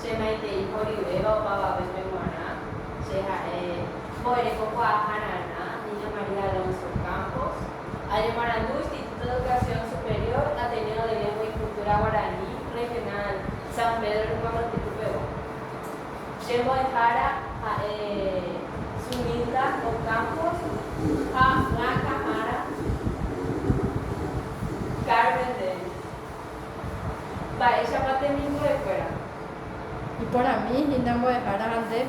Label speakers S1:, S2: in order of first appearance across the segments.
S1: Che maitei horivéva opavavépe g̃uarã, che ha'e mbo'ereko-kuaa Jarana, Niña María Alonso Campos. Añemoarandu Instituto de Educación Superior Ateneo de Lengua y Cultura Guaraní Regional San Pedro Ñuãmba'yru pegua. Che mbo'ehára ha'e Sunilda Ocampos ha Blanca Mara Carmen del. Mba'éichapa temimbo'ekuéra. Iporãmi hína mbo'ehára ande.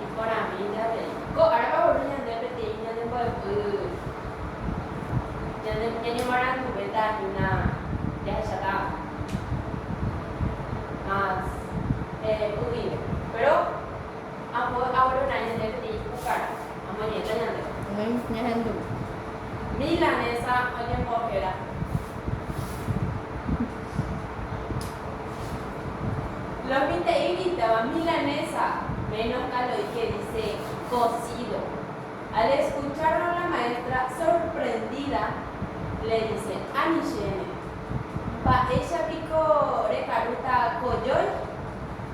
S1: Iporãmínte avei. Ko ára va'uru ñande peteĩ ñande mbo'epy ñande ñañemoaranduvéta hína jahecháta más humilde. Péro. Ambue avalora ñande peteĩ kukára, amoñe'ẽta ñandéve. Umi ñehendu. Milanesa oñembohéra. Lo mitã'i mitãva milanesa, menos mal oĩ ke dise cocido. Al escucharlo la maestra sorprendida le dise, Ani chéne, mba'éicha piko rekarúta kojói?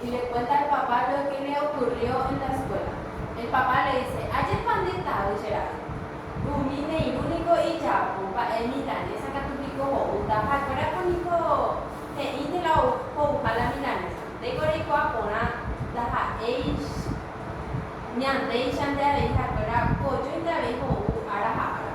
S1: y le cuenta al papá lo que le ocurrió en la escuela. El papá le dice, Ajépa nde tavy che ra'y. Umi neirũ niko ijapu mba'e milanesa katu piko ho'úta ha'ekuérako niko he'ínte la ho'uha la milanesa. Ndéiko reikuaa porã ndaha'éi ñandéicha nde avei ha'ekuéra pojoite avei ho'u ára ha ára.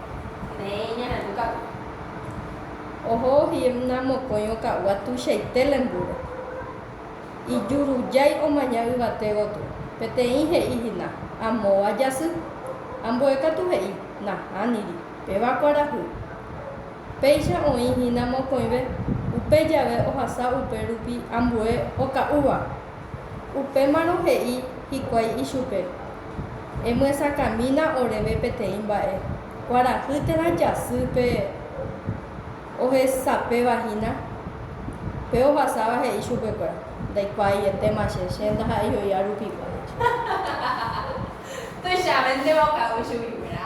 S1: Peẽ ñarandu ka'u. Oho Himna mokõi oka'úva tuichaite lembúro. Ijurujái omaña yvate gotyo. Peteĩ he'i hina, Amóva jasy. Ambue katu he'i, Nahániri, péva kuarahy. Péicha oĩ hína mokõive, upe jave ohasa upe rupi ambue oka'úva. Upémarõ he'i hikuái ichupe, Emyesakãmína oréve peteĩ mba'e, kuarahy térã jasýpe ohesapéva hína. Pe ovasáva he'i chupekuéra, Ndaikuaaietema che, che ndaha'éi oi'a rupigua, he'i. Tuichavéntema okávo chuguikuéra.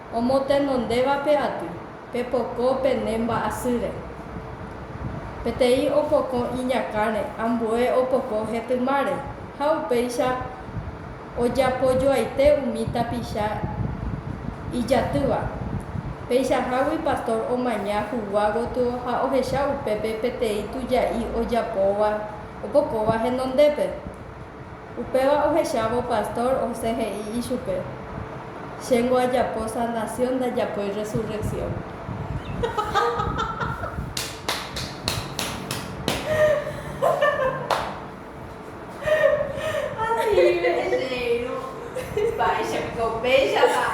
S1: Omotenondévape aty, pepoko pene mba'asýre. Peteĩ opoko iñakãre, ambue opoko hetymáre, ha upéicha ojapojoaite umi tapicha ijatýva. Peichahágui pastor omaña hugua gotyo ha ohecha upépe peteĩ tuja'i ojapóva opokóva henondépe. Upéva ohechávo pastór osẽ he'i ichupe, Chéngo ajapo sanasión ndajapói resurreksión. Asive rejeheirũ mba'éicha piko upéichapa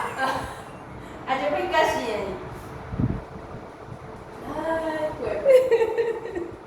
S1: ajapói kashi'ẽi. Ay kuépe.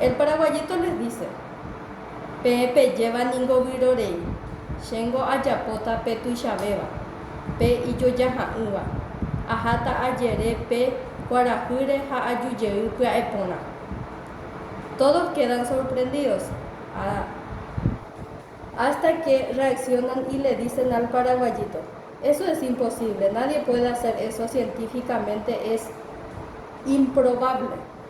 S1: El paraguayito les dice, Peẽ pejéva ningo vyrorei, chéngo ajapóta pe tuichavéva, pe ijojaha'ỹva, aháta ajere pe kuarahýre ha ajujey pya'eporã. Todos quedan sorprendidos, hasta que reaccionan y le dicen al paraguayito, Eso es imposible, nadie puede hacer eso científicamente, es improbable.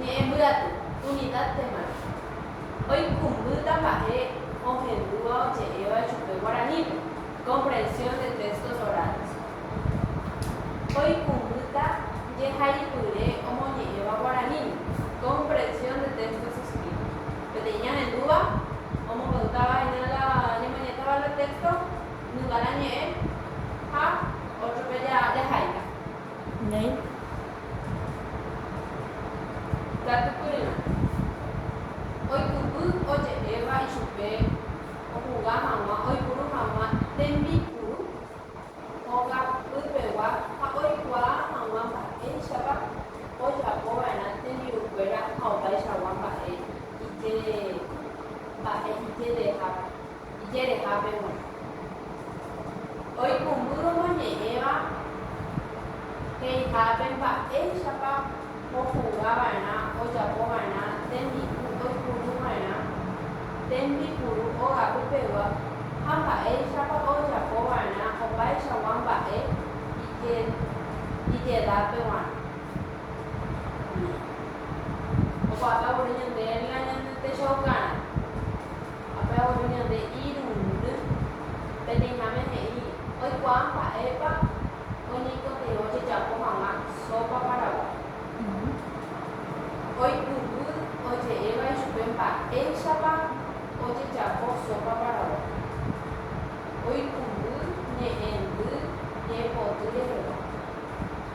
S1: Ñe'ẽ mbyaty, unidad de marca, oikumbýta mba'e ohendúva oje'éva ichupe guaranípe, comprensión de textos orales. Oikumbýta jehaipyre omoñe'ẽva guaraníme, comprensión de textos escritos. Peteĩ ñahendúva omombe'útava hína la ñamoñe'ẽtava la texto, nunga la ñe'ẽ ha ótrope jahaíta. Néi. Katukurirã. Oikypy oje'éva ichupe ohuga hag̃ua oipuru hag̃ua tembipuru hóga pypegua ha oikuaa hag̃ua mba'éichapa ojapo va'erã tembi'ukuéra ha opaichagua mba'e ijere mba'e ijerehápe. ijerehápe g̃uarã. Oikũmby omoñe'ẽva he'ihápe mba'éichapa ohuga va'erã ojapo va'erã tembi'u oipuru va'erã tembipuru ogapy pegua ha mba'éichapa ojapo va'erã opaichagua mba'e ijedápe g̃uarã. Umi. Opu'aka voi ñandéve ninga ñande techaukarã. Ha pe abuelo ñande irundy, peneiháme he'i, Oikuaa mba'épa oñeikotevõ jejapo hag̃ua sópa paraguái. Oipyhy oje'éva ichupe mba'éichapa ojejapo sópa paraguái. Oipyhy ñe'ẽndy ñe'ẽpoty rehegua.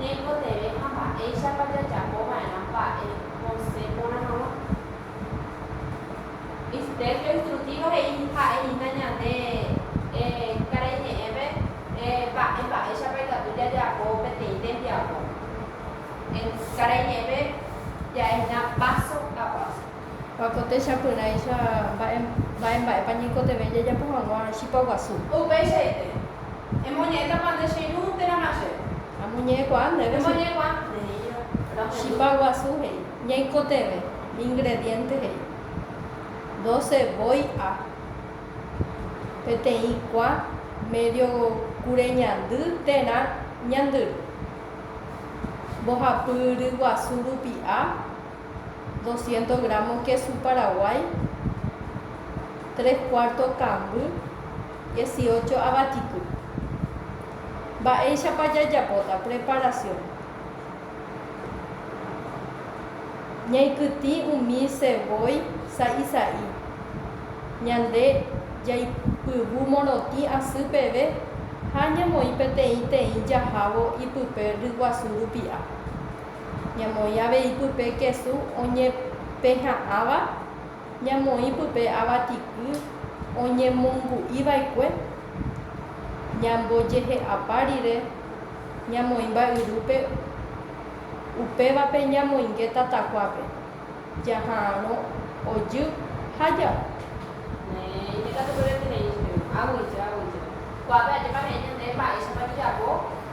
S1: Ñaikotevẽ ha mba'éichapa jajapo va'erã mba'e osẽ porã hag̃ua. Mister Yoinstrutiva he'i ha'e hína ñande karai ñe'ẽme mba'e mba'éichapa ikatu jajapo peteĩ tembiapo. Karai ñe'ẽme ja'e hína páso a páso. Ha ko techapyrãicha mba'e mba'e mba'épa ñaikotevẽ jajapo hag̃ua chipa guasu. Upeichaite, emoñe'ẽtapa nde che irũ térã ma'e. Amoñe'ẽkuaa ndéve. Emoñe'ẽkuaa neíva. Chipa guasu he'i. Ñaikotevẽ, ingrediente he'i. Doce voi a. Peteĩ kua, medio kure ñandy térã ñandyry. Mbohapy ryguasu rupi a. 200 gramo kesu paraguái, tres cuarto kamby, 18 avatiky. Mba'éichapa jajapóta preparación. Ñaikytĩ umi ceboy sa'i sa'i. Ñande jaipyvu morotĩ asy peve ha ñamoĩ peteĩ teĩ jahávo ipype ryguasu rupi'a. Ñamoĩ avei pype kesu oñepeha'ãva, ñamoĩ pype avatiky oñemongu'i va'ekue, ñambojehe'apa rire ñamoĩ mba'yrúpe, upévape ñamoinge tatakuápe, jaha'arõ ojy ha ja'u. Néi, ndikatukuéra eterei, eterei. Aguyje, aguyje. Kuápe ajépa he'i ñandéve mba'éichapa jajapo.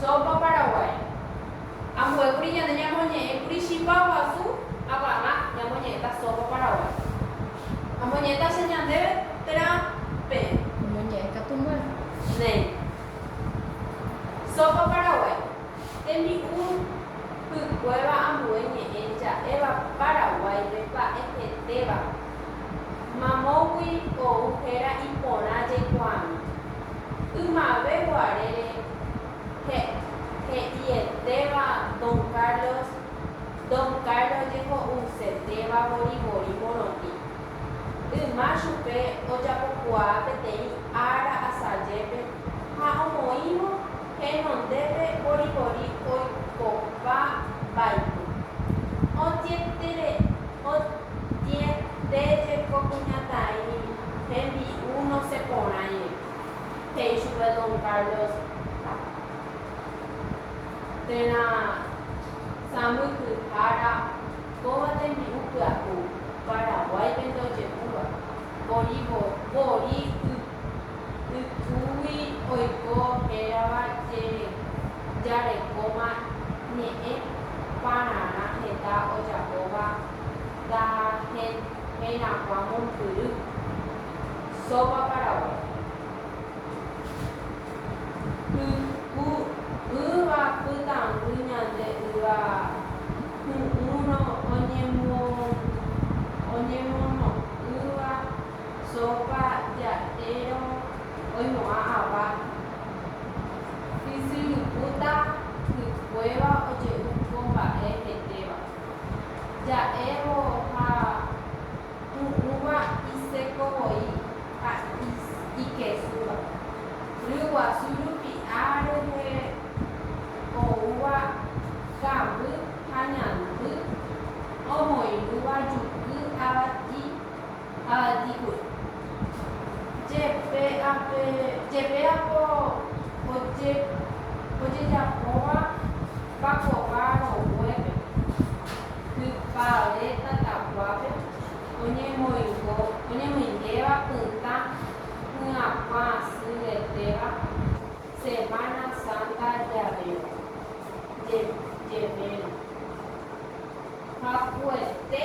S1: Sopa Paraguay. Ambuékuri ñande ñamoñe'ẽkuri chipa guasu apagã ñamoñe'ẽta sopa Paraguay. Amoñe'ẽta che ñandéve térã peẽ. Omoñe'ẽ katu muérto. Néi. Sopa Paraguay. Tembi'u hykuéva ambue ñe'ẽ ja'éva Paraguáipe pa'ehetéva. Mamógui ou héra iporã jaikuaami. Ymave guarére he'ietéva Don Carlos, Don Carlos jeho'usetéva vorivori morotĩ. Yma chupe ojapokuaa peteĩ ára asajépe ha omoĩvo Henondépe voivoi oikopa mba'yru. Oñeñangareko jeko kuñataĩ hembi'u nosẽ porãive, he'i chupe don Carlos térã sãmbyhyhára kóva tembi'u pyahu Paraguáipe ndojehúva, voivoi ypy. Ypýgui oiko hérava Jarekóma Ñe'ẽ pararã heta ojapóva ndaha'eirãkuã mombyry. Sopa Paraguay. Pyku'ỹva pytãngy ñande yva hu'ũrõ oñemono'ỹva. Sópa ja'érõ oimo'ã ava isyrupúta hikuéva oje'u ko mba'e hetéva. Ja'évo ha pu'ũva iséko voi ha ikesúva. Ryguasu rupi'a rehe oúva kamby ha ñandy omoirũva juky avati. ha aitĩgui. Jepe ape, jepe apo oje, ojejapóva pa kóva roguépe, hypa ore tatakuápe oñemoingo, oñemoingéva pytã hyakuã asy retéva Semana Santa javéva, je, jevérõ. Hakuete.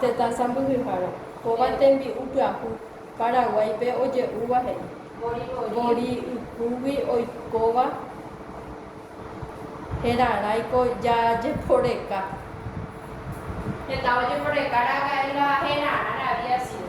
S1: Tetã sãmbyhyhára. Kóva tembi'u pyahu Paraguáipe oje'úva he'i. Vori ykúgui oikóva heraráiko jajeporeka. Heta ojeporeka ra'aka'e la herarã ravia sío.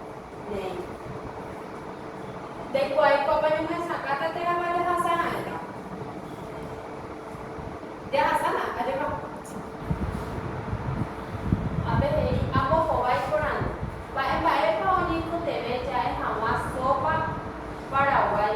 S1: Néi. Ndaikuaái kóva ñohesakãta térã va jahasara'ẽta. Jahasárã ajeva. Ápe he'i, Ambohovái iporãndy. Mba'e mba'épa oñeikotevẽ ja'e hag̃ua sópa Paraguái?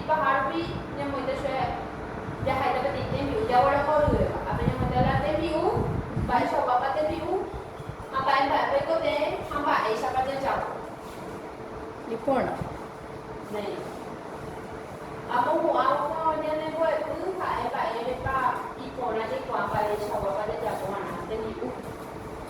S1: Ipaha rupi ñamoite chupe jahaita peteĩ tembi'u jaguereko ryivéva. Ha peñamoite la tembi'u, mba'eichaguápa tembi'u ha mba'e mba'e peiko tee ha mba'éichapa jajagua. Iporã. Néi. Amohu'ãvoma ñane mbo'epy ha'e mba'érepa iporã jaikuaa mba'eichaguápa jajapóva'erã tembi'u.